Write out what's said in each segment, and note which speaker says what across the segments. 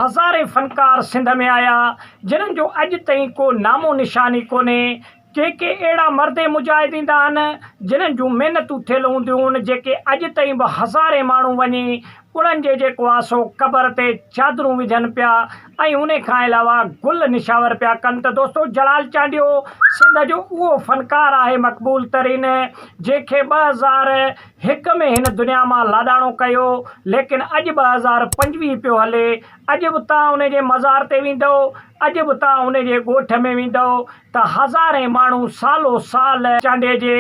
Speaker 1: هزارين فنڪار سنڌ ۾ آيا جنھن جو اڄ تائين ڪو نامو نشان ئي ڪونھي ڪي ڪي اهڙا مرد ۽ مجاهد ايندا آھن جنھن جون محنتون ٿيل هونديون جيڪي اڄ تائين به هزارين ماڻھو وڃي انھن جي جيڪو آھي سو قبر تي چادرون وجهن پيا ۽ انھي کان علاوه گل نشاور پيا ڪن ته دوستو جلال چانڊيو سنڌ جو اهو فنڪار آھي مقبول ترين جنھن کي ٻه هزار هڪ ۾ هن دنيا مان لاڏاڻو ڪيو، ليڪن اڄ ٻه هزار پنجويهه پيو هلي، اڄ به توهان ان جي مزار تي ويندؤ، اڄ به توهان ان جي ڳوٺ ۾ ويندؤ ته هزارين ماڻهو سالو سال چانڊيي جي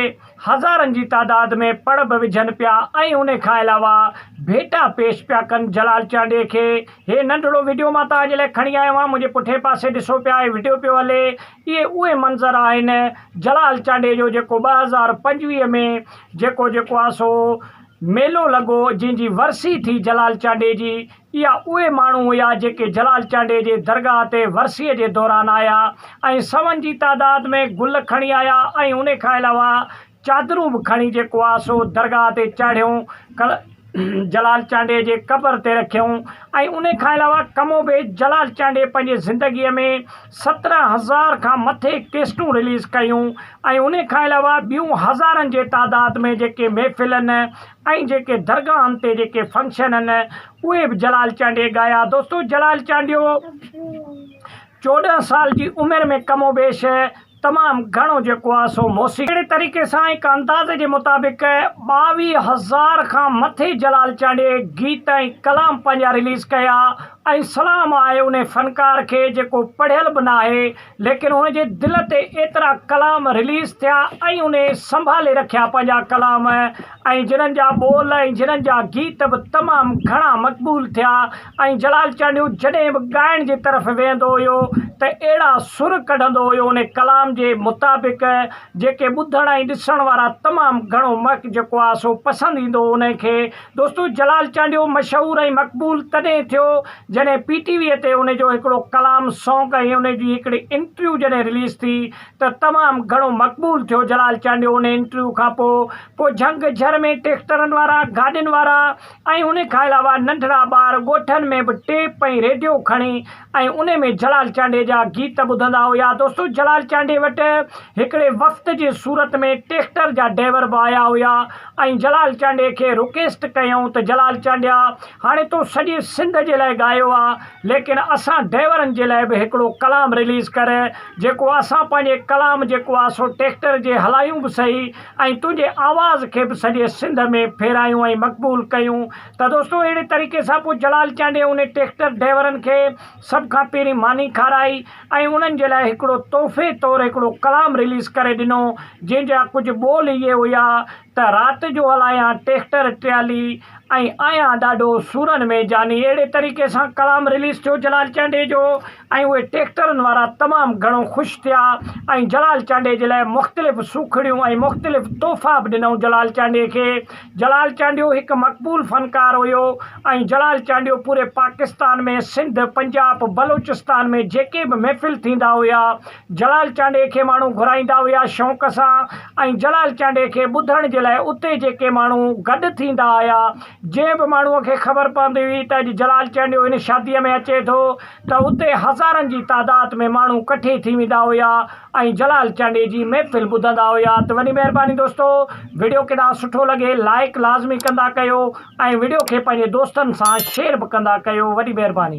Speaker 1: هزارن جي تعداد ۾ پڙ به وجهن پيا ۽ ان کان علاوه ڀيٽا پيش پيا ڪن جلال چانڊيي کي. هي ننڍڙو وڊيو مان توهان جي لاء کڻي آيو آهيان، منهنجي پٺئين پاسي ڏسو پيا هي وڊيو پيو هلي، اهي اهي منظر آهن جلال چانڊيي جو جيڪو ٻه هزار پنجويهه ۾ جيڪو جيڪو آ سو ميلو لڳو جنهن جي ورسي ٿي جلال چانڊيي جي اها اهي ماڻهو هيا جيڪي جلال چانڊيي جي درگاهه تي ورسيي جي دوران آيا ۽ سون جي تعداد ۾ گل کڻي آيا ۽ انهي کان علاوه چادرون به کڻي جيڪو آ سو درگاهه تي چاڙهيون جلال چانڊيي جي قبر تي رکيون ۽ انهي کان علاوه ڪم و بيش جلال چانڊيي پنهنجي زندگيء ۾ سترهن هزار کان مٿي ڪيسٽون رليز ڪيون ۽ انهي کان علاوه ٻيون هزارن جي تعداد ۾ جيڪي محفلن ۽ جيڪي درگاهن تي جيڪي فنڪشن هن اهي به جلال چانڊيي ڳايا دوستو جلال چانڊيو چوڏهن سال جي عمر ۾ ڪم و بيش تمام گهڻو جيڪو آهي سو موسيقي اهڙي طريقي سان هڪ اندازي جي مطابق ٻاويهه هزار کان مٿي جلال چانڊيي گيت ۽ ڪلام پنهنجا رليز ڪيا ۽ سلام آهي انهي فنڪار کي جيڪو پڙهيل به ناهي ليڪن هن جي دل تي ايترا ڪلام رليز ٿيا ۽ انهي سنڀالي رکيا پنهنجا ڪلام ۽ جنھن جا ٻول ۽ جنھن جا گيت به تمام گهڻا مقبول ٿيا ۽ جلال چانڊيو جڏهن به ڳائڻ جي طرف ويھندو هيو ته اهڙا سر ڪڍندو هيو ان ڪلام جي مطابق جيڪي ٻڌڻ ۽ ڏسڻ وارا تمام گهڻو مڪ جيڪو آ سو پسند ايندو هو انھي کي دوستو جلال چانڊيو مشهور ۽ مقبول تڏهن ٿيو جڏهن پي ٽي وي تي ان جو هڪڙو ڪلام سانگ ۽ ان جي هڪڙي انٽرويو جڏهن رليز ٿي ته تمام گهڻو مقبول ٿيو جلال چانڊيو ان انٽرويو کان پوء پوء جهنگ جهر ۾ ٽيڪٽرن وارا گاڏين وارا ۽ ان کان علاوه ننڍڙا ٻار ڳوٺن ۾ به ٽيپ ۽ ريڊيو کڻي ۽ ان ۾ جلال چانڊيي جا گيت ٻڌندا هيا دوستو جلال چانڊيي وٽ هڪڙي وفد جي صورت ۾ ٽيڪٽر جا ڊيور به آيا هيا ۽ جلال چانڊيي کي رڪيسٽ ڪيائون ته جلال چانڊيا هاڻي تو سڄي سنڌ جي لاء ڳايو آ ليڪن اسان ڊائيورن جي لاء به هڪڙو ڪلام رليز ڪر جيڪو اسان پنهنجي ڪلام جيڪو آ سو ٽيڪٽر جي هلايون به سهي ۽ تنهنجي آواز کي به سڄي سنڌ ۾ ڦيرايون ۽ مقبول ڪيون ته دوستو اهڙي طريقي سان پوء جلال چانڊيي انهي ٽيڪٽر ڊائيورن کي سڀ کان پهرين ماني کارائي ۽ انهن جي لاء هڪڙو تحفي طور هڪڙو ڪلام رليز ڪري ڏنو جنهن جا ڪجهه ٻول اهي هيا ته رات جو هلايان ٽيڪٽر ٽريالي ۽ آهيان ڏاڍو سورن ۾ جاني اهڙي طريقي سان ڪلام رليز ٿيو جلال چانڊيي جو ۽ اهي ٽيڪٽرن وارا تمام گهڻو خوش ٿيا ۽ جلال چانڊيي جي لاء مختلف سوکڙيون ۽ مختلف تحفا به ڏنائون جلال چانڊيي کي جلال چانڊيو هڪ مقبول فنڪار هيو ۽ جلال چانڊيو پوري پاڪستان ۾ سنڌ پنجاب بلوچستان ۾ جيڪي به محفل ٿيندا هيا جلال چانڊيي کي ماڻهو گهرائيندا هيا شوق سان ۽ جلال چانڊيي کي ٻڌڻ جي لاء اتي جيڪي ماڻهو گڏ ٿيندا هيا جنهن به ماڻهو کي خبر پوندي هئي ته اڄ جلال چانڊيو هن شاديء ۾ اچي ٿو ته اتي هزارن جي تعداد ۾ ماڻهو ڪٺي ٿي ويندا هيا ۽ جلال چانڊيي جي محفل ٻڌندا هيا ته وڏي مهرباني دوستو وڊيو ڪيڏا سٺو لڳي لائيڪ لازمي ڪندا ڪيو ۽ وڊيو کي پنهنجي دوستن سان شيئر به ڪندا ڪيو وڏي مهرباني.